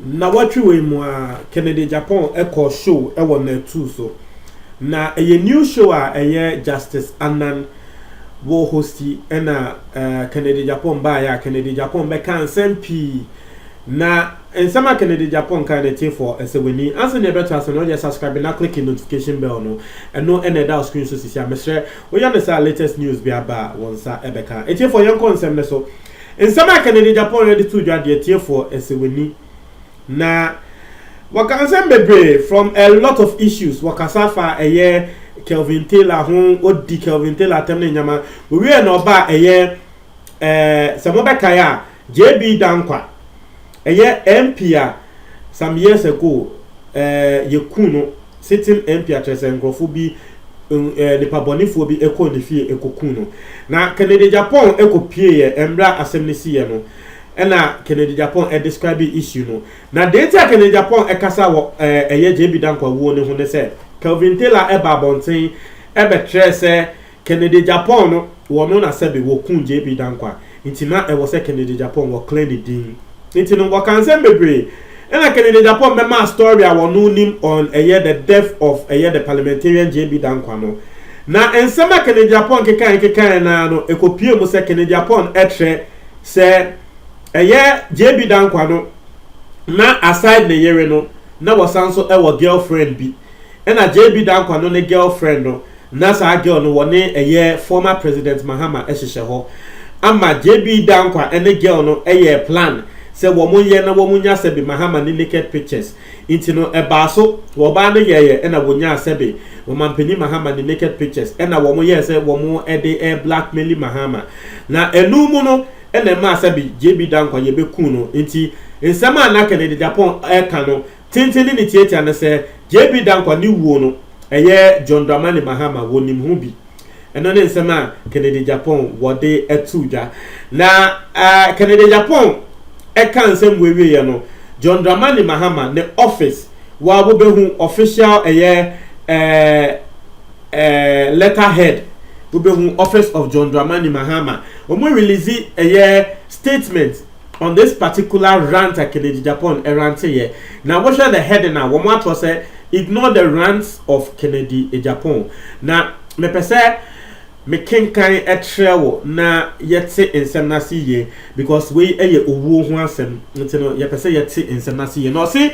Nnawɔtwe wei mu a, Kennedy Agyapong kɔɔ show wɔ Natu so. Na ɛyɛ new show a ɛyɛ Justice Anan wɔ hosti ɛna uh, Kennedy Agyapong baeɛ a Kennedy Agyapong bɛka nsɛm pii Na nsɛm a Kennedy Agyapong kae no ɛtee fɔ ɛsɛ w'ani ansa nea ɛbɛto ase no wode subscribe na click notification bell no ɛno na ɛda wo screen so sisi a mesrɛ woyɛ no saa a latest news bi aba a wo nsa ɛbɛka ɛtiefɔ yɛnkɔ nsɛm no so nsɛm a Kennedy Agyapong ɛde too dwa deɛ ɛtiefɔ ɛsɛ w'ani na wɔka nsɛm bebree from a lot of issues wɔkasa fa ɛyɛ Kelvin Taylor ho odi Kelvin Taylor atɛm ne nyama wɔwie na ɔba ɛyɛ ɛɛ sɛ mobɛkae a JB Dankwa, Ɛyɛ MP a some years ago eh, yɛku no, sitting MP a kyerɛ sɛ nkurɔfo bi, eh, nipa bɔnefoɔ bi kɔɔ ne fie ɛkɔku no. Na Kennedy Agyapong kɔpieeɛ mmerɛ a asɛm no siiɛ no, ɛna Kennedy Agyapong describee issue no. Na deɛ nti a Kennedy Agyapong ɛkasa wɔ eh, ɛyɛ JB Dankwa wuo no ho ne sɛ, Kelvin Taylor ɛbaa abɔnten ɛbɛkyerɛɛ sɛ Kennedy Agyapong no wɔ no na sɛbe wɔ kuu JB Danko a, nti na ɛwɔ sɛ Kennedy Agyapong wɔ clear ne din. Nti no wɔka nsɛm bebree. Ɛna Kennedy Agyapong bɛmaa story a wɔ no nim on ɛyɛ the death of ɛyɛ the parliamentarian JB Dankwa no. Na nsɛm a Kennedy Agyapong kekaɛ kekaɛ no ara no ɛkɔ pue mu sɛ Kennedy Agyapong ɛtrɛ sɛ ɛyɛ JB Dankwa no na aside ne yere no na wɔ san so ɛwɔ girl friend bi. Ɛna JB Dankwa no ne girl friend no Na saa girl no wɔne ɛyɛ former president Mahama hyehyɛ hɔ ama JB Dankwa ne girl no yɛɛ plan sɛ wɔn nyɛ na wɔn nya sɛbe Mahama ne naked pictures nti no ɛbaa so wɔbaa no yɛɛyɛ na wɔnyaa sɛbe Ɔmanpanin Mahama ne naked pictures na wɔn yɛɛ sɛ wɔn de blackmaili Mahama na ɛno mu no na ɛmaa sɛbe JB Dankwa yɛbɛkuu no nti nsɛm a na Kennedy Dappong ɛka no tenten ne ne tiatia ne sɛ JB Dankwa ne wuo no ɛyɛ John Dramani Mahama wɔnim ho bi. Ɛno ne nsɛm a Kennedy Agyapong wɔde ato dwa. Na Kennedy Agyapong ɛka nsɛm wei wieɛ no, John Dramani Mahama ne office wa wobɛhu official ɛyɛ ɛɛ letter head wobɛhu office of John Dramani Mahama wɔn release ɛyɛ statement On this particular rant a Kelechi Japan rante yɛ, na wohwɛ the heading a, wɔn ato sɛ Ignore the rants of Kennedy Agyapong. Na mepɛ sɛ me kenkan kyerɛ wo na yɛte nsɛm no ase yie because wei yɛ owuo ho asɛm nti no yɛpɛ sɛ yɛte nsɛm no ase yie. Na ɔse.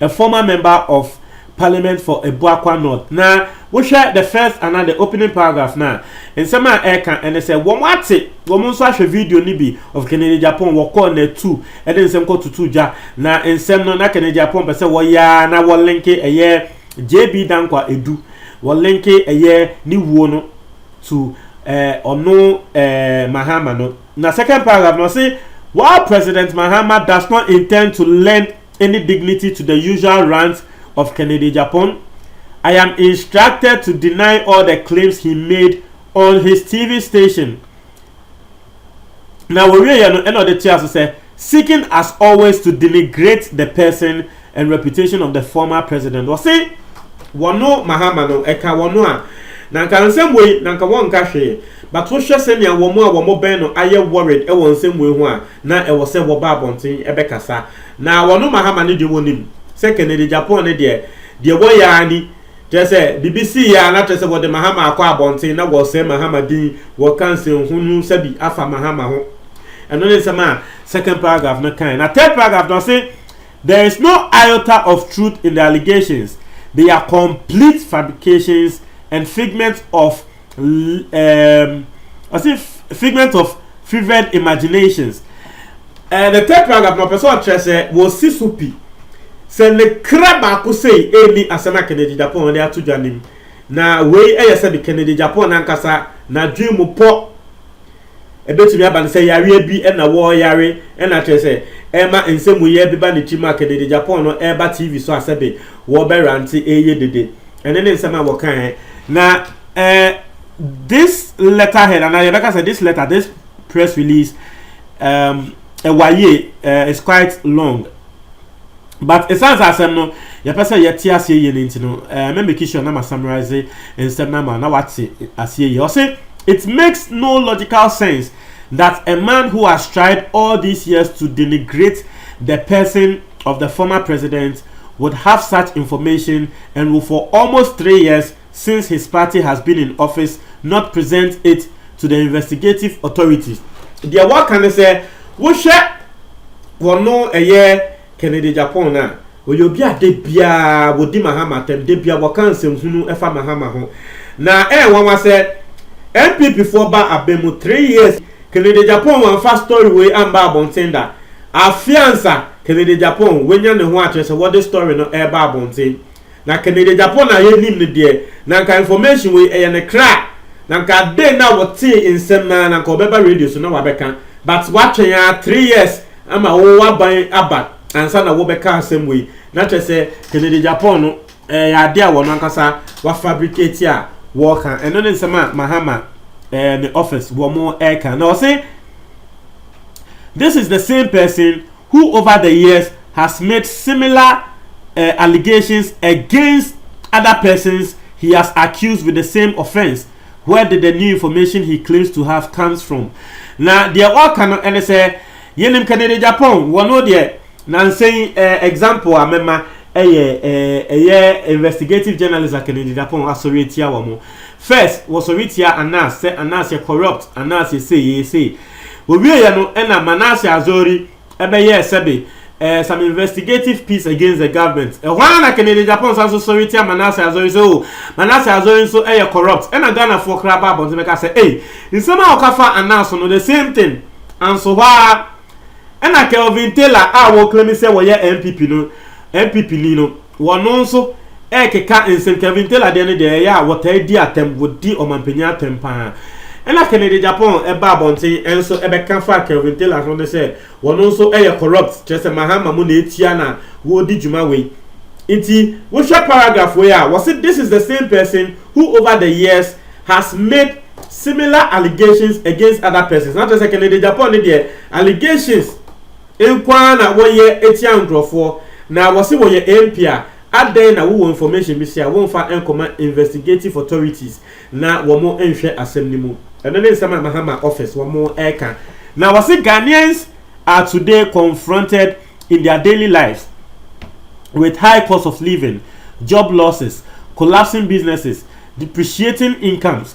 a former member of Parliament for Abuakwa North, na wohwɛ the first anaa the opening paragraph no a, nsɛm a ɛreka ne sɛ wɔn ate, wɔn nso ahwɛ video no bi of Kennedy Agyapong, wɔkɔɔ Natu de nsɛm kɔ tutu gya, na nsɛm no na Kennedy Agyapong pɛ sɛ wɔyɛ a na wɔlenke ɛyɛ JB Dankwa Edu, wɔlenke ɛyɛ ne wuo no to ɔno eh, eh, Mahama no. Na second paragraph no ɔse, while President Mahama does not intend to lend any dignity to the usual rant of Kennedy-Agyapong, I am instructed to deny all the claims he made on his TV station. Na wɔwieɛ no ɛna ɔde toa so sɛ, seeking as always to denigrate the person and reputation of the former president. Wɔse wɔno Mahama no ɛka wɔno a, na nka nsɛm wei na nka wɔnka hwee, but wohwɛ sɛnea wɔn a wɔbɛn no ayɛ worried wɔ nsɛm wei ho a, na ɛwɔ sɛ wɔba abɔnten bɛkasa, na wɔn Mahama no deɛ wɔnim sɛ Kennedy Japan no deɛ, deɛ wɔyɛ ara ni, kyerɛ sɛ biribi sii ara na kyerɛ sɛ wɔde Mahama akɔ abɔnten na wɔresɛe Mahama din, wɔreka nsɛnhunu sɛbi afa Mahama ho. Ɛno ne nsɛm a second paragraph no kae. Na third paragraph no ɔse, There is no iota of truth in the allegations, they are complete fabrications and figments of um, I say figment of fevered imaginations. Uh, the third paragraph, my person address eh, was Sisupi. Sɛ ne kra baako sei ɛni asɛm a Kennedy Japan wɔde ato dwa nim na wei ɛyɛ sɛ de Kennedy Japan nankasa n'adwene mu pɔ Ebetumi aba no sɛ yareɛ bi na wɔreyare na kyerɛ sɛ ɛma nsɛmuyɛ beba ne tirim a kedede Japan no reba TV so a sɛbe wɔrebɛrante reyɛ dede. Ɛno ne nsɛm a wɔkaeɛ. Na eh, this letterhead, anaa yɛbɛka sɛ this letter, this press release, um, ɛwayie, eh, is quite long. But ɛsiane sɛ asɛm no yɛpɛ sɛ yɛte aseɛ yie no nti no, eh, mɛ make sure na ma summarize nsɛm no ama na wate aseɛ yie. Ɔse, it makes no logical sense that a man who has tried all these years to denigrate the person of the former president would have such information and will for almost three years since his party has been in office not present it to the investigative authorities. Deɛ wɔka ne sɛ wohwɛ wɔno ɛyɛ Kennedy Agyapong no a, ɔyɛ obi a da biara wɔdi Mahama atɛm, da biara wɔka nsɛmhunu ɛfa Mahama ho. Na ɛyɛ nwanwa sɛ NPP foɔ ba abɛ mu three years Kennedy Agyapong wamfa story wei amba abɔnten da. Afe ansa Kennedy Agyapong wanya ne ho akyerɛ sɛ wɔde story no ɛreba abɔnten. Na Kanadiagyapɔn a yɛnim no deɛ, na anka information wei ɛyɛ ne kra, na anka adɛn na wotee nsɛm no ara na anka ɔbɛba radio so na wabɛka, but watwɛn ara three years ama wo w'aban aba ansa na wobɛka asɛm wei, na kyerɛ sɛ Kanadiagyapɔn no ɛyɛ adeɛ a wɔn ankasa wa fabricate a wɔreka, ɛno ne nsɛm a Mahama ɛɛ ne office wɔn ɛreka, na ɔse this is the same person who over the years has made similar eh, allegations against other persons he has accused with the same offence, where did the new information he claims to have comes from? Na deɛ ɔreka no ɛne sɛ, yɛnim Kennedy Agyapong, wɔno deɛ nansa yi eh, example a mɛma ɛyɛ eh, ɛyɛ investigative journalist a Kennedy Agyapong asɔre atia wɔn. First, wɔsɔre tia Anas sɛ Anas yɛ corrupt, Anas yɛ sei, yɛyɛ sei. Wɔwieeɛ no na Manasseh Azori bɛyɛɛ sɛbe eh, some investigative piece against the government. Ɛhɔ ara na Kennedy Agyapong san so sɔre tia Manasseh Azori sɛ oh, Manasseh Azori nso yɛ corrupt. Ɛna Ghanafoɔ koraa baa abɔnten bɛka sɛ ei, nsɛm a ɔka faa Annah so no, the same thing. Anso hɔ ara na Kelvin Taylor a wɔreclaim sɛ wɔyɛ NPP no, NPP ni no, Wɔno nso rekeka nsɛnkaabi ntel adeɛ no deɛ ɛyɛ a wɔtaa di atɛm wɔdi ɔmanpanyin atɛm paa ɛna Kennedy Japan ɛba abɔnten ɛnso ɛbɛka fa Kelvin Taylor ho ne sɛ wɔno nso ɛyɛ corrupt kyerɛ sɛ Mahama mu na ɛtua na wɔredi dwuma wei nti wohwɛ paragraph wei a wɔse this is the same person who over the years has made similar allegations against other persons na kyerɛ sɛ Kennedy Japan ne deɛ allegations Nko ara na wɔyɛ tia nkorɔfoɔ na wɔse wɔyɛ MP a adɛn na wowɔ information bi se a wonfa nkɔma investigative authorities na wɔn nhwɛ asɛm no mu. Ɛno ne nsɛm a Mahama office wɔn ɛka. Na wɔse Ghanaians are today confronted in their daily lives with high cost of living, job losses, collapsing businesses, depreciating incomes,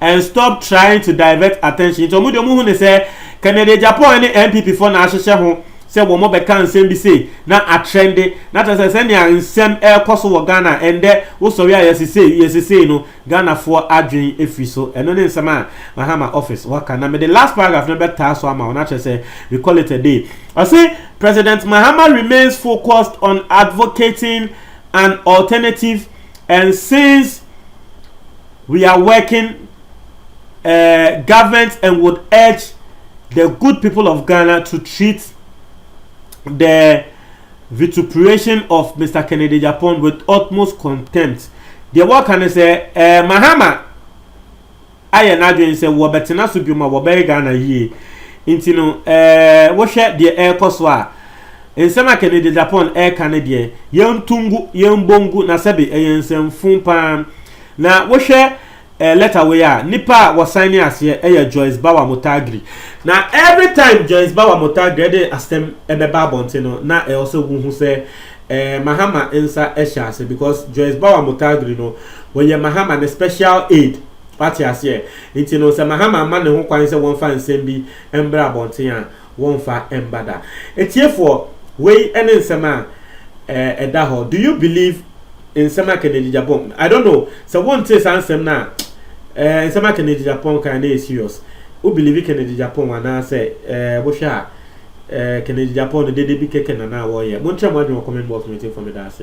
and stop trying to divert attention nti wɔn deɛ wɔn hu ne sɛ Kennedy Agyapong ne NPP foɔ na ahyehyɛ ho sɛ wɔn bɛka nsɛm bi sei na atrɛnde na kyerɛ sɛ sɛnea nsɛm ɛrekɔ so wɔ Ghana ɛndɛ wosɔre a yɛsi sei yɛsi sei no Ghana foɔ adwen efiri so ɛno ne nsɛm a Mahama office waka na mede last paragraph no bɛtaa so ama wɔn akyerɛ sɛ we call it a day ɔse President Mahama remains focused on advocating an alternative and since We are working eh, government and would urge the good people of Ghana to treat the vituperation of Mr. Kennedy Japan with utmost contempt. Deɛ wɔka ne sɛ eh, Mahama ayɛ n'adwene sɛ wɔbɛtena so biom a wɔbɛyɛ Ghana yie nti no eh, wohwɛ deɛ ɛrekɔ so a nsɛm a Kennedy Japan ɛreka ne deɛ yɛntungu yɛnbongu na sɛbe ɛyɛ nsɛmfun paa Na wohwɛ eh, lɛta wei a, nipa a wɔsan ne aseɛ ɛyɛ Joyce Bawa Motagri. Na every time Joyce Bawa Motagri ɛde asɛm ɛbɛba abɔnten no, na ɛwɔ sɛ wohu sɛ eh, Mahama nsa ɛhyɛ ase because Joyce Bawa Motagri no, wɔyɛ Mahama ne special aid. Wate aseɛ? Nti no, sɛ Mahama ama ne ho kwan sɛ wɔmfa nsɛm bi mbra abɔnten a, wɔmfa mma da. Atiefoɔ, wei ne nsɛm a ɛda hɔ. Do you believe nsɛm a Kennedy Agyapong, I don't know, sɛ wontee saa nsɛm no a, eh, nsɛm a Kennedy Agyapong kan no yɛ serious. Wo believe Kennedy Agyapong anaasɛ eh, wohwɛ a eh, Kennedy Agyapong no dede bi kɛkɛ na na wɔyɛ? Monkyerɛ mo adwene wɔ comment box no atiefo, meda ase.